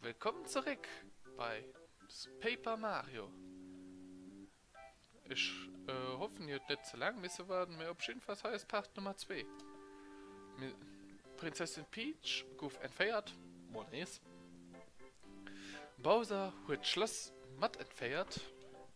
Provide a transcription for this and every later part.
Wëllkomm zeréck bei Paper Mario! Ech hoffen dir huet net ze laang misse waarden, mee op jiddefalls hei ass Part Nummer 2. D'Prinzessin Peach gouf entféiert, mol nees. Bowser huet d'Schlass mat entféiert.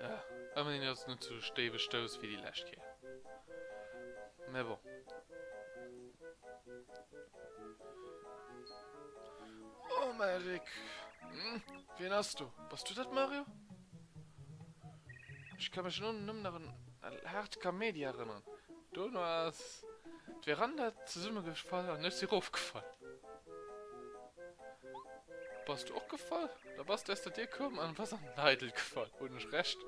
Ja, ëmmerhin ass et net sou déif e Stouss wéi déi lescht Kéier. Mä bon. Oh, mä Rick! Wien ass do? Bass du dat, Mario? Ech ka mech elo nëmmen nach un Hart Kamedia erënneren. Duerno ass d'Veranda zesummegefall an ech si erofgefall. Bass du och gefall? Da bass de aus der Dier koum an bass an den Eidel gefall. Hunn ech Recht?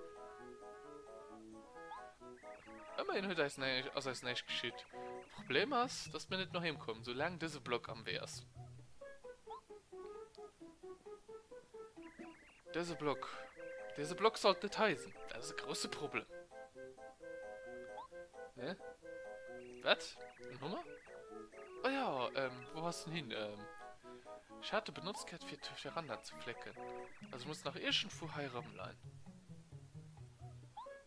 Ëmmerhin huet eis näi, ass eis näischt geschitt. Problem ass, dass mir net no heem kommen, sou laang dëse Block am Wee ass. Dëse Block. Dëse Block sollt net hei sinn. Dat ass e grousse Problem. Hä? Wat? En Hummer? Oh ja, ähm, wou ass en hin? Ähm, ech hat e benotzt gehat, fir d'Veranda ze flécken. Also muss nach iergendwou hei erëmleien.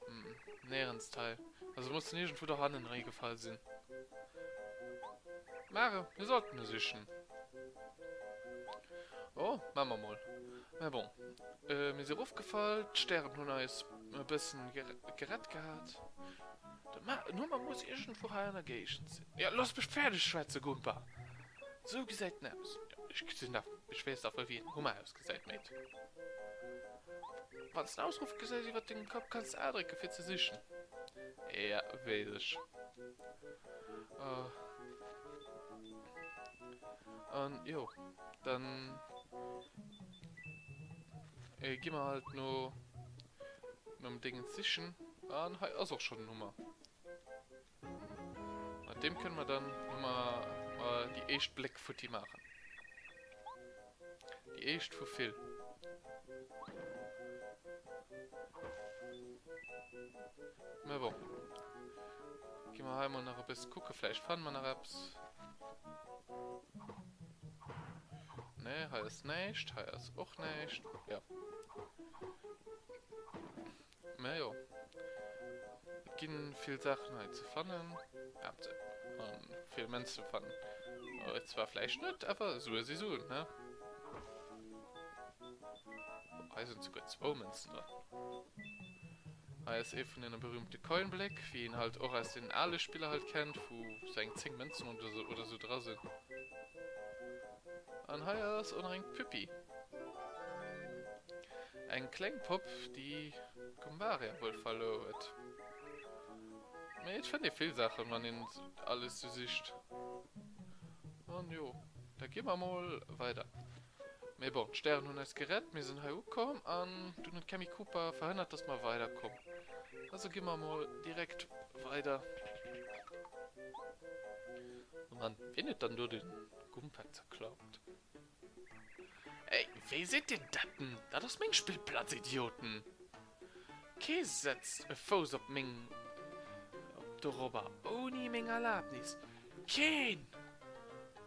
Hm, näerens hei. Also muss en iergendwou do hannen erëmgefall sinn. Mare, mir sollten e sichen. Oh, maa mer mol. Mä bon, mir si eroffgefall, d'Stären hunn eis e bëssen gerett gehat. De Nummer muss iergendwou hei an der Géigend sinn. Jo, looss mech fäerdeg schwätzen, Gumper! Sou gesäit en aus. Ech gesinn nach, ech weess nach wëll, wéi en Hummer ausgesäit, Mate. Wann s de Ausruffe gesäis iwwer dengem Kapp, kanns de A drécken, fir ze sichen. Jo, weess ech. An jo, dann äh, gi mer halt no nom Dingen sichen. An hei ass och schon den Hummer. Mat dem können wir dann mal, mal die echt Bleck futti machen. Die echt vu vill. Gi mer hei mal nach e bësse kucke, vläicht fanne mer nach eppes. Nee, hei ass näischt, hei ass och näischt. Ja. Mä jo. Et ginn vill Saachen hei ze fannen. Habt se. An vill Mënz ze fannen. Äh, zwar vläicht net, awer Sue si Suen, ne? Hei sinn souguer zwou Mënzen dran. Hei ass ee vun den berühmte Coinbléck, wéi een halt och aus den aale Spiller halt kennt, wou sou eng 10 Mënzen oder sou dra sinn. An hei ass och nach eng Püppi, eng kleng Popp, déi Goombaria wuel verluer huet. Mee et fënnt ee vill Saachen, wann een alles sou sicht. An jo, da gi mer mol weider. Mee bon, d'Stären hunn eis gerett, mir sinn hei ukomm an dunn huet d'Cammy Cooper verhënnert, dass mer weiderkomm. Also gi mer emol direkt weider. Oh Mann, wien huet dann do de Gumpak zerklappt? Ey, wéi seet Dir Deppen? Dat ass meng Spillplatz, Idioten! Kee setzt e Fouss op meng. Op dorobber ouni meng Erlabnis! Keen!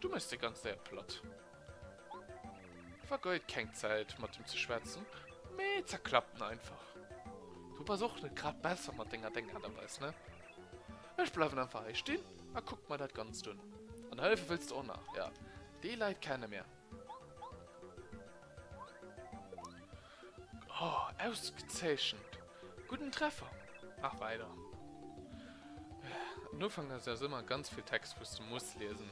Du mëss déi ganz Säit platt. Vergeud keng Zäit mat em ze schwätzen, mee zerklapp en einfach. Du bass och net grad besser mat denger deng Aart a Weis, ne? Ech bleiwen einfach hei stinn a kucken mer dat Ganzt un. An hëllefe wëlls de och nach, jo, déi Leit kenne mir. Oh, ausgezeechent! Gudden Treffer! Mach weider! Den Ufank ass aus ëmmer ganz vill Text wous de muss liesen.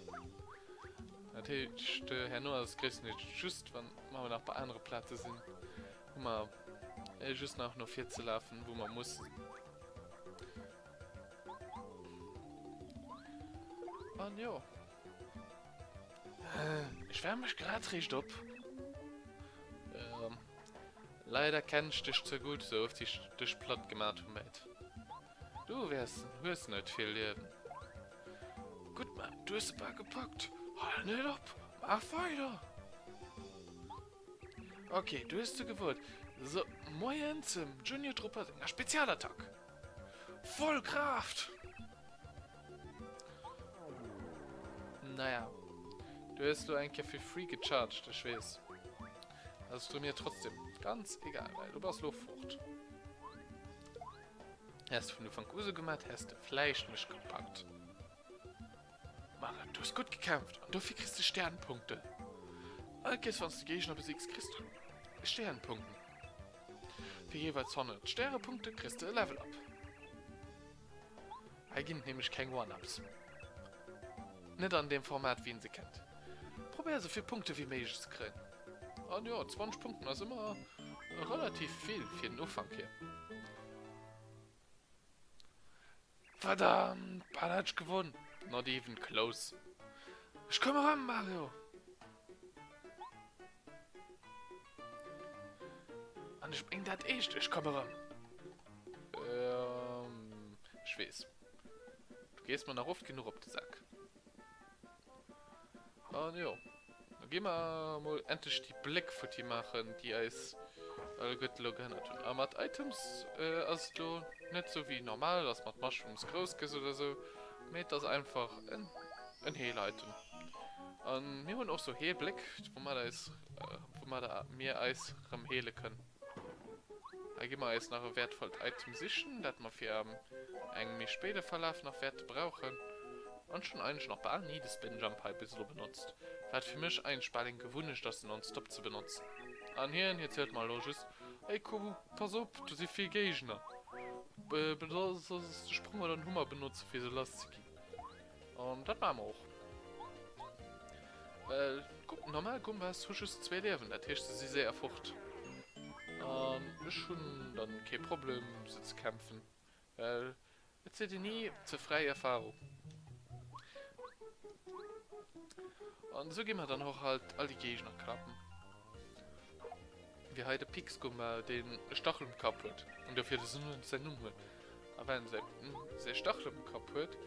Dat heescht herno ass et gréisstendeels just wann mer nach bei anere Plaze sinn hu mer just nach no vir ze lafen wou mer mussen. An jo. Ech wärm mech grad réischt op. Leider kennen ech dech ze gudd, sou oft wéi ech dech platt gemat hu Matt. Du wärs, hues net vill Liewen. Gudd Matt, du hues e par gepackt. Hal net op, maach weider. Ok, du hues se gewot. Sou, Moien zum Junior Trupper senger Spezialattack. Voll Kraaft! Naja. Du hues lo eng Kéier fir free gecharged, ech weess. Ass du mir trotzdem ganz egal, well du bass lo fort. Häss de vun Ufank u sou gemat, häss de vläicht mech gepackt. Ma du hues gutt gekämpft an dofir kriss de Sternpunkten. All Kéiers wann s de Géigner besigs, kriss du Sternpunkten. Fir jeeweils 100 Stärepunkte kriss de e Level-Up. Hei ginn et nämlech keng One-Ups. Net an deem Format, wéi een se kennt. Probéier esou vill Punkte wéi méiglech ze kréien. An jo, 20 Punkten ass ëmmer relativ vill fir den Ufank hier. Verdammt, bal hat ech gewonn. Not even close. Ech koum erëm, Mario! An ech meng dat eescht, ech komm erëm. Ehm, ech weess. Du gees mer nach oft genuch op de Sak. An jo, da gi mer emol endlech déi Bléck futti maachen, déi eis alleguerte lo gehënnert hunn. A mat Items ass et lo net esou wéi normal, dass mer d'Mushrooms grouss gëss oder esou. Mee et ass einfach en Heeliten. A mir hunn och sou Heelbléck, woumat eis, woumat mir eis rëm heele kënn. Hei gi mer eis nach e wäertvollt Item sichen, dat mer fir engem méi spéide Verlaf nach wäerte brauchen. An ech hunn eigentlech nach bal ni de Spinjump hei bis elo benotzt, wat fir mech eigentlech bal eng Gewunnecht ass, en nonstop ze benotzen. An hien, hie zielt mer elo just, Hey Kubu! Pass op, do si vill Géigner. Benotz de Sprong oder den Hummer benotzen, fir se lass ze ginn. An dat maache mer och. Well, kuck, normal Gumbas hu just zwee Liewen, dat heescht, se si séier fort. An ech hunn dann kee Problem, se ze kämpfen. Well et sidd dir ni ze fräi Erfahrung. An esou gi mer dann och halt all déi Gegner klappen. Wéi hei de Pixgumma deen e Stachel um Kapp huet an dofir dësen Hunt säin Numm huet. A well säi säi Stachel um Kapp huet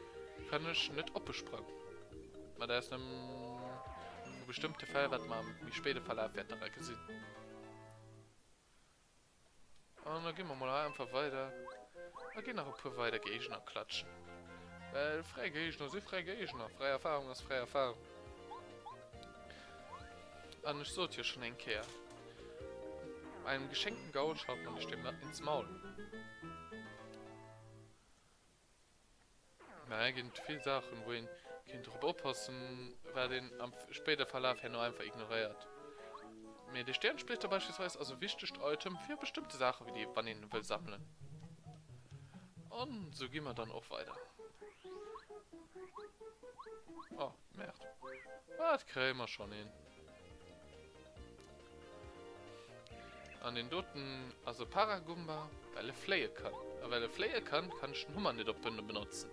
kann ech net oppe sprang. Mä dat ass nëmmen bestëmmte Fäll wat mer am méi spéide Verlaf wäerten da gesinn. An da ginn mer mol hei einfach weider. A ginn nach e puer weider Géigner klatschen. Well fräi Géigner si fräi Géigner. Fräi Erfahrung ass fräi Erfahrung. An ech sot jo schonn eng Kéier, Bei engem geschenkten Gaul schaut man ech deem net ins Maul. Mä et ginn vill Saachen, wou een kéint drop oppassen, wat een am spéider Verlaf herno einfach ignoréiert. Mee de Stäerensplitter beispillsweis ass e wichtegt Item fir bestëmmte Saachen, wéi déi, wann een e wëll sammelen. An esou gi mer dann och weider. Merd. Ah, et kréie mer schonn een. An deen doten ass e Paragumba, well e fléie kann. A well e fléie kann, kann ech den Hummer net op Bënne benotzen.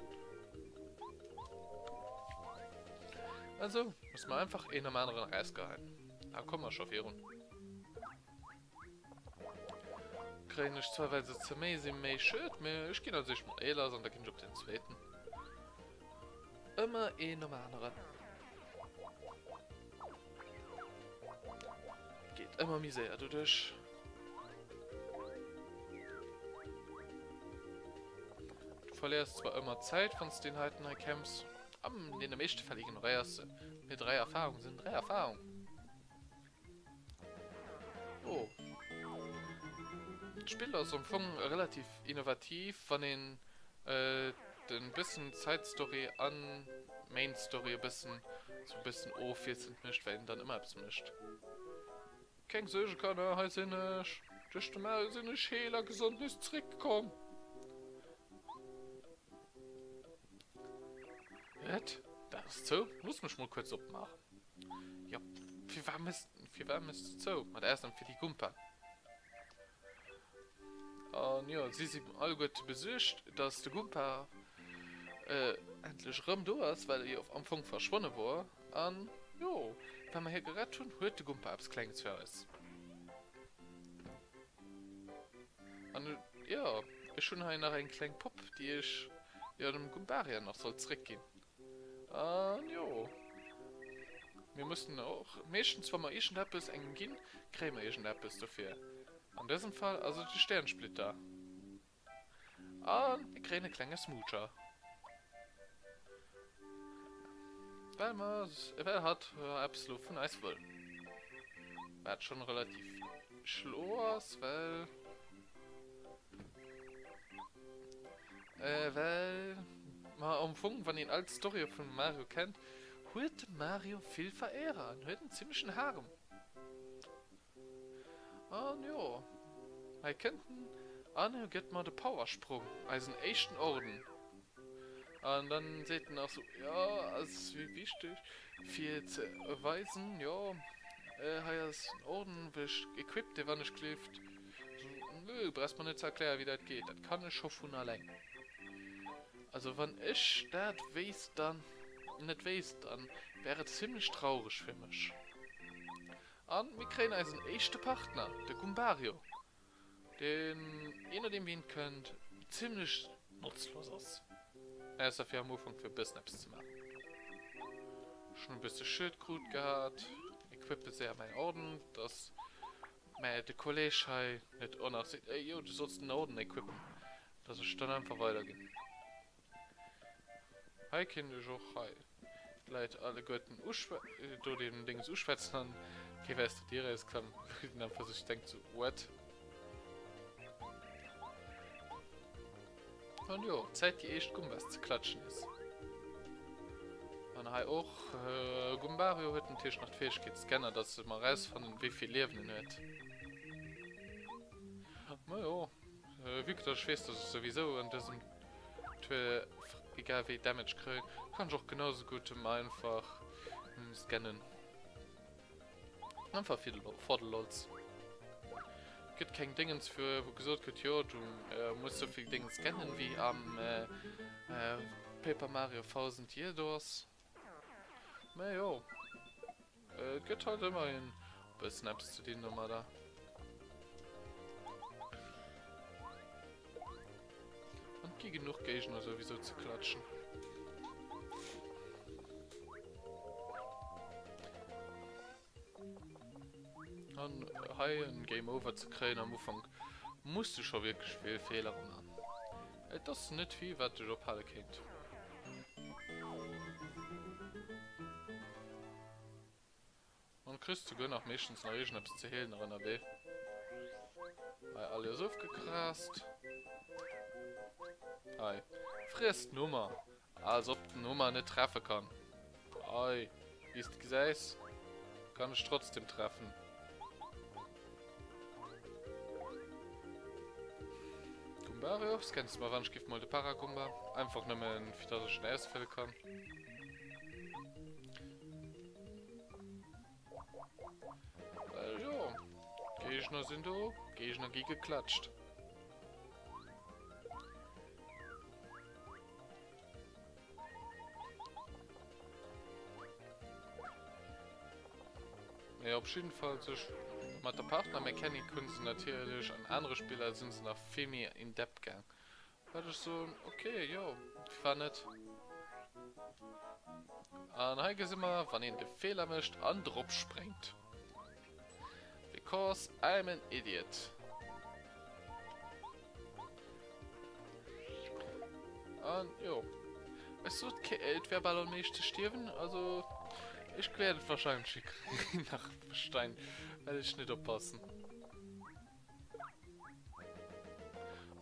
Also muss mer einfach een nom aneren erausgeheien. A komme mer scho virun. Kréien ech zwar well se ze méi sinn, méi Schued, mee ech ginn als éischt mol Eelers an da ginn ech op den zweeten. Ëmmer een nom aneren. Geet ëmmer méi séier doduerch. Du verléiers zwar ëmmer Zäit, wann s deen heiten hei kämpfs. An deene meeschte Fäll ignoréiers se. Mee dräi Erfarung sinn dräi Erfarung. Oh. D'Spill ass am Fong relativ innovativ, wann een de bëssen Side Story a Main Story e bëssen sou e bëssen ofwiesselnd mécht, well een dann ëmmer eppes mécht. Keng Suerge Kanner, hei sinn ech! Duerch de Maui sinn ech heel a gesond nees zeréckkomm! Wat? D'Aen ass zou? Looss mech mol kuerz opmaachen. Jop, firwat mëss, firwat mëss du zou? Mat Ausnam fir déi Gumpa. An jo, si si alleguerte besuergt, dass de Gumpa endlech erëm do ass, well e jo am Fong verschwonne wor. An jo, well mer hie gerett hunn, huet de Gumpa eppes Klenges fir eis. An jo, ech hunn hei nach eng kleng Popp, déi ech jo dem Gumparian nach sollt zréckginn. An jo. Mir mussen och meeschtens, wa mer iergendeppes engem ginn, kréie mer iergendeppes dofir. An dësem Fall ass et e Stäerensplitter. A mir kréien e klenge Smoocher. Well mer, well hatt eppes elo vun eis wëll. Wat schonn relativ schlo ass, well. Äh, well... Ma am Fong, wann een all d'Storye vum Mario kennt, huet de Mario vill Vereerer an huet en zimmlechen Harem. An jo, hei kënnt en an e gëtt mer de Powersprong, eisen éischten Orden. An dann seet en nach sou, jo, ass wéi wichteg fir ze weisen, jo, hei ass en Orden, wou ech equipped e Wanneschklift. Nö, brauchs mer net ze erklären wéi dat geet, dat kann ech scho vun alleng. Also wann ech dat wéisst dann, net wéisst, dann wär et zimlech traureg fir mech. An mir kréien eisen éischte Partner, de Goombario, deen, je nodeem wéi en kënnt, zimlech notzlos ass, ausser fir am Ufank fir e bëssen eppes ze maachen. Ech hunn e bësse Schued krut gehat, equippe se a mäin Ordnung, dass Mä de Kolleg hei huet och nach seet, Ey yo, du solls den Orden equippen, dass ech dann einfach weiderginn. Hei kéint ech och hei d'Leit alleguerten uschwä. Do deen Dings uschwätzen an kéif aus der Dier erausklammen, wou deen einfach sech denkt, So, what? An jo, Zäit déi éischt Gumbas ze klatschen ass. An hei och, Gumbario huet natierlech nach d'Fäegkeet Scanner, dass e mer erausfannen, wéi vill Liewen en huet. Ma jo, vue que dass ech weess, dass ech souwisou an dësem Tour egal wéi Damage kréien, kann ech och genau esou gutt em einfach scannen. Einfach für den, for the lols. Gibt kein Dingens für, wo gesagt wird, jo, du äh, musst so viel Dingens kennen wie am äh, äh, Paper Mario 1000 Year Doors. Na jo. Äh, gibt halt immer ein bisschen etwas zu den Nummer da. An et gi genuch Géigner souwisou ze klatschen. An hei en Game Over ze kréien am Ufank muss du scho wierklech vill Feeler man. Et ass net vill wat dech ophale kéint. An du kriss souguer nach meeschtens nach iergendeppes ze heelen nach ënnerwee. Hei alles ofgekrast. Hei, friess den Hummer. Als ob den Hummer net treffe kann. Hei, wéi s de gesäis, kann ech trotzdem treffen. Gumbarior, scanns du mer wann ech giff mol de Paragumba? Einfach nëmmen, fir dass ech en ausfëlle kann. Well jo, Géigner sinn do, Géigner gi geklatscht. Mee op jeden Fall sech mat der Partner Mechanik hunn se natierlech an anere Spiller sinn se nach vill méi in depth gaang. Wat ech soen, ok jo, wa net? An hei gesi mer wann een de Feeler mécht an drop spréngt. Because I'm an idiot. An jo, ech sot ke et wär bal am meescht ze stierwen, also ech wäert et wahrscheinlech hikriegen nach Stein well ech net oppassen.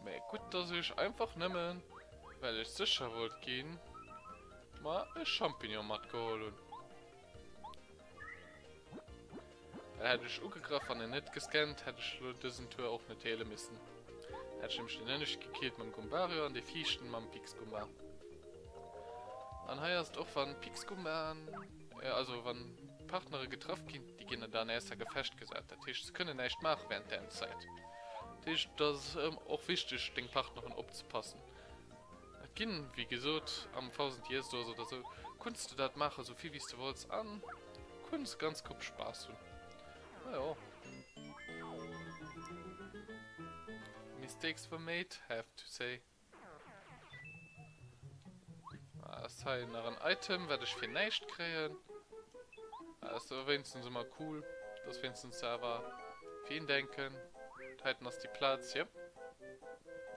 Mee gutt dass ech einfach nëmmen well ech sécher wollt ginn mer e Champignon matgeholl hunn. Well hätt ech ugegraff an en net gescannt hätt ech elo dësen Tour och net heele missen. Hätt ech nämlech deen ënneschte gekillt mam Goombario an dee viischten mam Pixgoomba. An hei ass et och wann Pixgoomba Also wann Partnere getraff ginn, déi ginn dann erst a Gefecht gesat. Dat heescht, se kënnen näischt maache während där Zäit. Dat heescht, et ass och wichteg, deng Partnerin opzepassen. Et ginn, wéi gesot, am Thousand Years Doors oder esou, kunns de dat maachen, esou vill wéi s de wolls, a kunns ganz Grupp Spaass hunn. Majo. Mistakes were made, have to say. Ah, ist hei nach ein Item, wat ich fir näischt kréien. Ah, ist awer wéinstens ëmmer cool, dass wéinstens se awer fir een denken. Heiten ass déi Plaz, jep.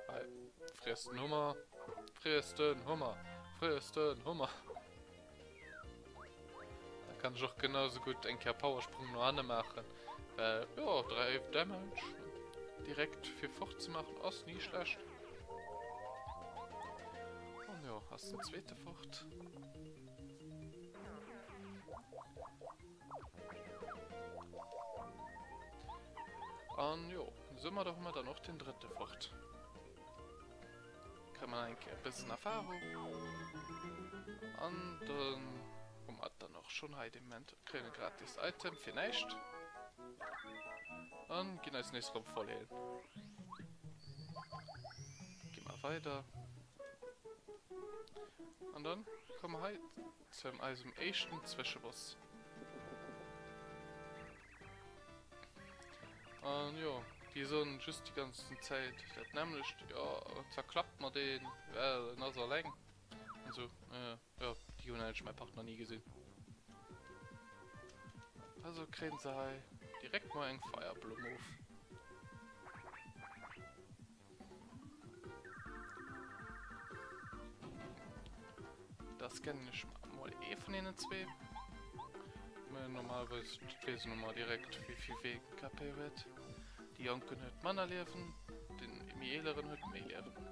Hei, friess den Hummer, friess den Hummer, friess den Hummer. Da kann ech och genau so gutt eng Kéier Powersprung no hanne maachen, well jo 3 Damage direkt fir fort ze maachen ass ni schlecht. An jo ass den zweete fort. An jo, soumadder hu mer dann och den drëtte fort. Kréie mer eng Kéier e bëssen Erfahrung. An dann hu mer et dann och schonn hei dee Moment. Kréien e gratis Item fir näischt. An ginn eis nees erëm voll heelen. Gi mer weider. An dann komme mer hei. Zu eisem éischten Zwëscheboss. An jo, déi soen just déi ganzen Zäit dat nämmlecht, jo zwar klappt mer deen, well en ass alleng an sou. Jo, déi hunn eigentlech mäi Partner ni gesinn. Also kréien se hei direkt mol eng Feierblumm of. Da scannen ech mol ee vun deenen zwee. Normalerweis weess een ëmmer direkt, wéi vill wéi ee kapéiert huet. Déi Jonken huet manner Liewen, deen méi eeleren huet méi Liewen.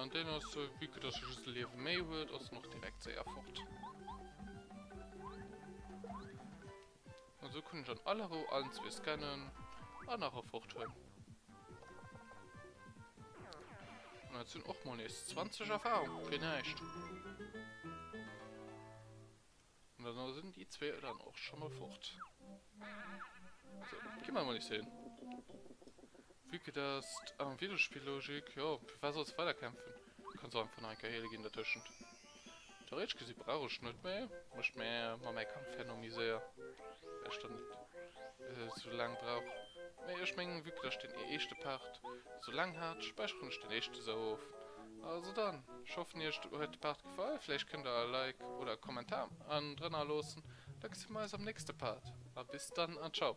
An den ass so, vu que dass e just e Liewe méi huet, ass en och direkt séier fort. An esou kann ech an aller Rou allen zwee scannen an nach e fort hunn. An dat sinn och mol nees 20 Erfarung fir näischt. An dann ass en déi zwee dann och scho mol fort. Sou, gi mer mol nees hin. Vue que dass am Videospill Logik, jo, firwat solls de weider kämpfen? Kanns och einfach nach eng Kéier heele ginn dertëschent. Theoretesch gesi brauch ech net méi, wa ech mer mam mäi Kampf herno méi séier, well ech dann net esou laang brauch. Mee ech mengen, vue que dass ech deen éischte Part esou laang hat, späicheren ech deen éischte sou of. Also dann, ech hoffen iech huet de Part gefall, vläicht kënnt der e Like oder e Kommentar an drënner loossen, da gesi mer eis am nächste Part a bis dann an ciao.